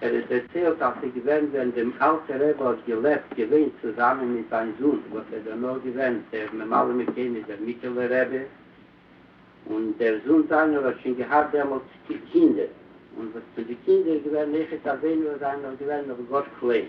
ער האט דערציילט אז ס'איז געווען ווען דעם אלטער רבי האט געלעבט געווען צוזאמען מיט זיין זון וואס איז דערנאך געווען דער ממלא מקום איז דער מיטעלער רבי, און דער זון זיינער האט שוין געהאט דעמאלט קינדער, און וואס פון די קינדער איז געווען נכד אבינו וואס זיינען נאך געווען נאך גאר קליין.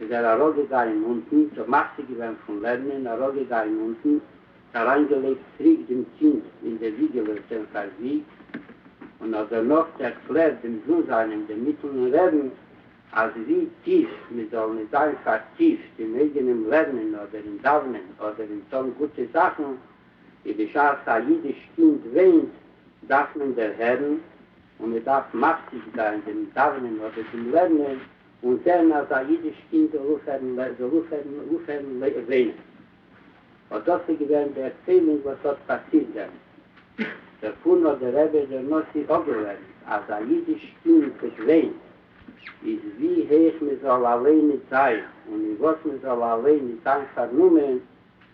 איז ער אַראָפּגעגאַנען אונטן, זיך מפֿסיק געװען פֿון לערנען, אַרױפֿגעגאַנען אונטן, אַרײַנגעלײגט צוריק דעם צינג אין די װיגעלעס דעם פֿאַרזיג, און האָט דערנאָך דערקלערט דעם זון זײַנעם דעם מיטלען רעבן, אַז װי טיף מע זאָל ניט זײַן פֿאַרטיפֿט אין אײגענעם לערנען אָדער אין דאַװנען אָדער אין טאָן גוטע זאַכן, װי בשעת אַ ייִדיש קינד װײנט, דאַרף מען דערהערן, און מע דאַרף מפֿסיק זײַן דעם דאַװנען אָדער דעם לערנען. און זען אז א אידיש קינד זאל אויפהערן לער זאל אויפהערן אויפהערן לע וויינען. אט דאס איז געווען די ערציילונג וואס האט פאסירט דעמאלט. דערפון האט דער רבי דער נשיא אפגעלערנט אז א אידיש קינד וואס וויינט איז ווי הויך מען זאל אליין ניט זיין און אין וואס מען זאל אליין ניט זיין פארנומען,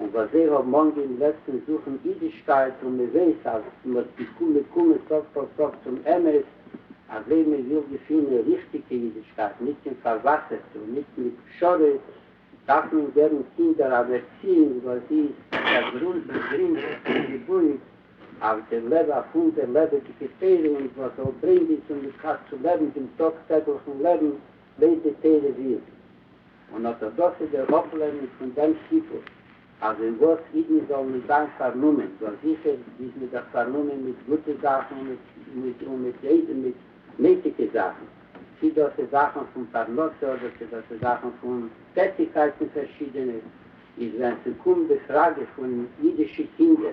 און וואס זיי האבן אנגעהויבן לעצטענס זוכן אידישקייט און מען זעהט אז מען האט געקומען סוף כל סוף צום אמת אזוי מען וויל געפינען ריכטיגע אידישקייט נישט קיין פארוואסערטע און נישט מיט פשרות דארף מען געבן קינדער אן ערציאונג וואס זי איז באגרינדעט און געבויט אויף דער לב הפועם דער לעבעדיגע פירונג וואס זאל ברענגען צום אידקייט צו לעבן דעם טאג טעגליכן לעבן ביידע טערע ווירק און ארטאדאקסע דער אפלערנונג פון דעם סיפור אז אין וואס אידן זאלן נישט זיין פארנומען דאס זיכער איז מען דאך פארנומען מיט גוטע זאכן און מיט נייטיגע זאכן צי דאס איז זאכן פון פרנסה אדער צי דאס איז זאכן פון טעטיגקייטן פארשידענע איז ווען ס'קומט די פראגע פון אידישע קינדער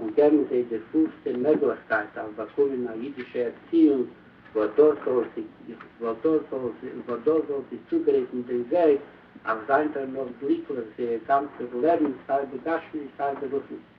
און געבן זיי די פולסטע מעגליכקייט אויף באקומען א אידישע ערציאונג וואס דאס זאל זיי צוגרייטן דעם וועג אויף זיין דערנאך גליקליך זייער גאנצער לעבן סיי בגשמיות סיי ברוחניות.